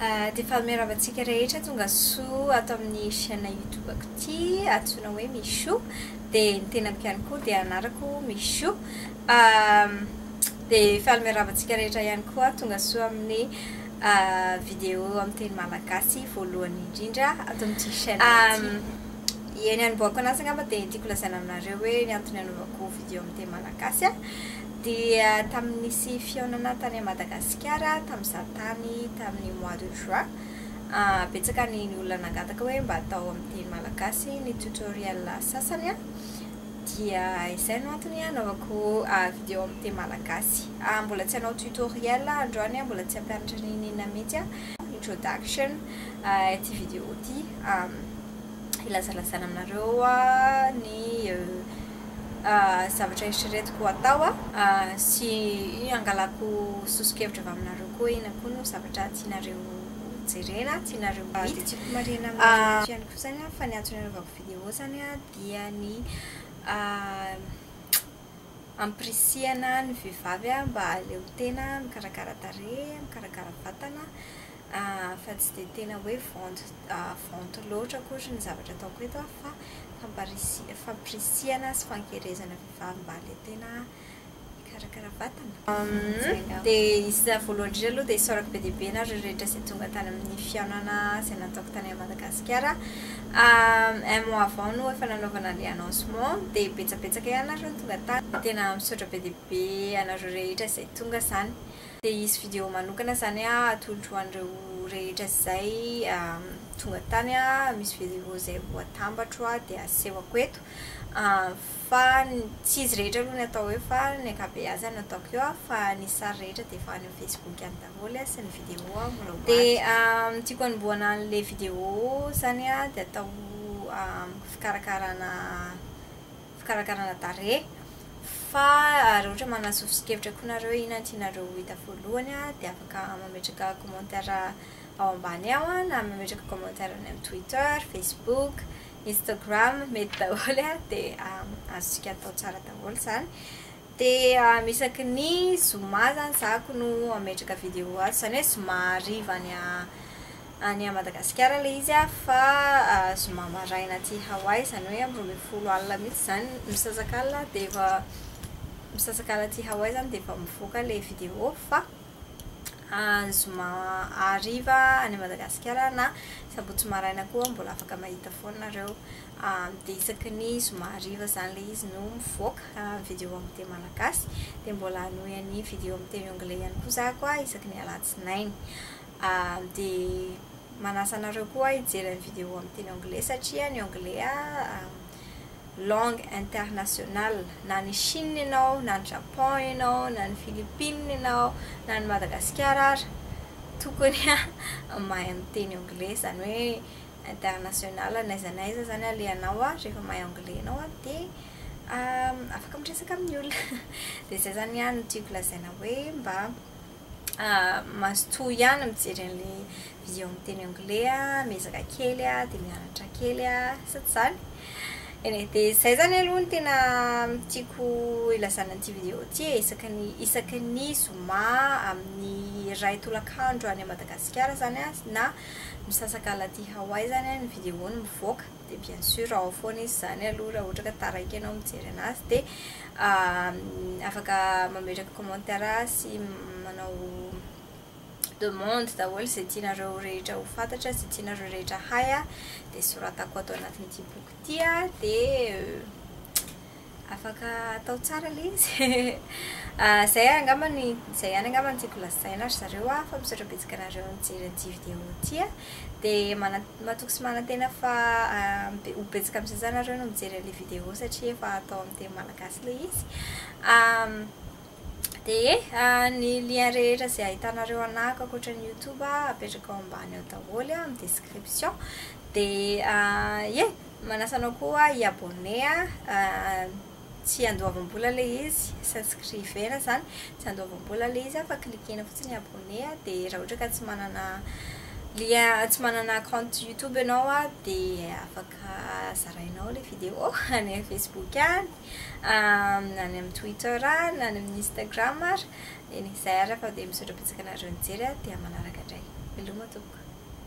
Dia efa miarahaba antsika rehetra tonga soa ato amin'ny chaîne YouTube-ko ity, antsoina hoe Michou. Dia ny tenako ihany koa dia anarako Michou. Dia faly miarahaba antsika rehetra ihany koa tonga soa amin'ny vidéo amin'ny teny malagasy voalohany indrindra ato amin'ity chaîne ity. Ny anombohako anazy angamba dia ny tiako lazaina aminareo hoe ny antony anaovako vidéo amin'ny teny malagasy Dia tamin'ny nisy fihaonana tany Madagasikara tamin'izaho tany tamin'ny mois de juin, betsaka ny ny olona nangataka hoe mba atao amin'ny teny malagasy ny tutoriel sasany an, dia izay no antony hanaovako video amin'ny teny malagasy. Mbola tsy hanao tutoriel aho androany an, mbola tsy hampianatra n'inona n'inona mihitsy an, introduction ity video ity hilazalazana aminareo ny zavatra eritreretiko ho atao sy hangalako soso-kevitra avy aminareo koa iny akoa no zavatra tianareo jerena, tianareo ho hita. Dia tiako marihina aminareo eto ihany koa izany fa ny antony anaovako vidéo izany dia ny hampirisihana ny vehivavy mba hahaleo tena, mikarakara tarehy, mikarakara vatana, Fa tsy dia tena hoe vente vente loatra akory ny zavatra ataoko eto an, fa famparisi- fampirisihana sy fankerezana vehivavy mba le tena hikarakara vatana. Dia iza voalohany indrindra aloha dia isaorako be dia be ianareo rehetra izay tonga tany amin'ny fihaonana izay nataoko tany Madagasikara un mois avant no efa nanaovana ilay annoncement dia betsabetsaka ihany ianareo no tonga tany dia tena misaotra be dia be anareo rehetra izay tonga izany Dia hisy vidéo manokana izany atolotro ho an'ireo rehetra izay tonga tany, misy vidéo izay ho atambatro dia asehoko eto, fa tsy izy rehetra aloha no atao eo fa ny ankabeazany no ataoko eo, fa ny sary rehetra dia efa any amin'ny facebook any daholo sy ny vidéo mbola ho ato. Dia ny tiako hanombohana an'ilay vidéo izany dia atao fikarakarana. fikarakarana tarehy fa raha ohatra manana sosokevitra koa nareo hoe inona no tianareo ho hita voalohany dia afaka mametraka commentaire ao ambany ao na mametraka commentaire any amin'ny twitter, facebook, instagram mety daholo dia azontsika atao tsara daholo izany dia isaky ny zoma izany zako no mametraka vidéo azy izany hoe zoma hariva any any à Madagasikara ilay izy a fa zoma maraina aty Hawaii izany hoe amin'ny roa ambin'ny folo alina mihintsy izany misasak'alina dia efa misasak'alina aty Hawaii izany dia efa mivoaka ilay vidéo fa ny zoma hariva any Madagasikara na sabotsy maraina koa mbola afaka mahita foana nareo dia isaky ny zoma hariva izany ilay izy no mivoaka ny vidéo amin'ny teny malagasy dia mbola hanohy ny vidéo amin'ny teny anglais ihany koa za koa isaky ny alatsinainy Dia manasa anareo koa hijery ny video amin'ny teny anglais satria ny anglais langue internationale. Na any Chine ianao, na any Japon ianao, na any Philippines ianao, na any Madagasikara ary, tokony mahay miteny anglais. Izany hoe international, n'aiza n'aiza izany alehanao, rehefa mahay anglais ianao dia afaka miresaka amin'ny olona. Dia izay izany ihany no tiako lazaina hoe mba mazotoa ihany mijery an'ilay vision miteny anglais an, miezaka kely an, dia mianatra kely an, sy ny sisa. Eny e, dia izay izany aloha no tena tiako ilazana an'ity video ity e, isaky ny isaky ny zoma amin'ny iray tolakandro any Madagasikara izany an, na misasakala aty Hawaii izany an, ny video-ny mivoaka. dia bien sûr ao foana izy izany aloha raha ohatra ka taraiky ianao mijery anazy dia afaka mametraka commentaire sy manao demande daholo izay tianareo rehetra ho fantatra sy tianareo rehetra hay dia soratako ato anatin'ity boky ity dia Afaka atao tsara ilay izy Izay angamba no izay ihany angamba no tiako lazaina ry zareo an, fa misy ohatra betsaka anareo nijery an'ity vidéo ity an, dia mana- matoky sy manantena fa ho betsaka amin'ny sasany nareo no mijery an'ilay vidéo satria efa atao amin'ny teny malagasy ilay izy Dia ny lien rehetra izay ahitanareo anah ankoatra ny youtube apetraka ao ambany ao daholo an, amin'ny description, dia ye Manasa anao koa hi abonner an, tsy andoavam-bola ilay izy, s'inscriver izany, tsy andoavam-bola ilay izy fa cliquer-na fotsiny ny abonner an, dia raha ohatra ka tsy manana lien, tsy manana compte youtube ianao an, dia afaka zarainao ilay vidéo any amin'ny facebook any, any amin'ny twitter any, any amin'ny instagram ary, dia izay ary fa dia misaotra betsaka anareo nijery an, dia manaraka indray. Veloma tompoko.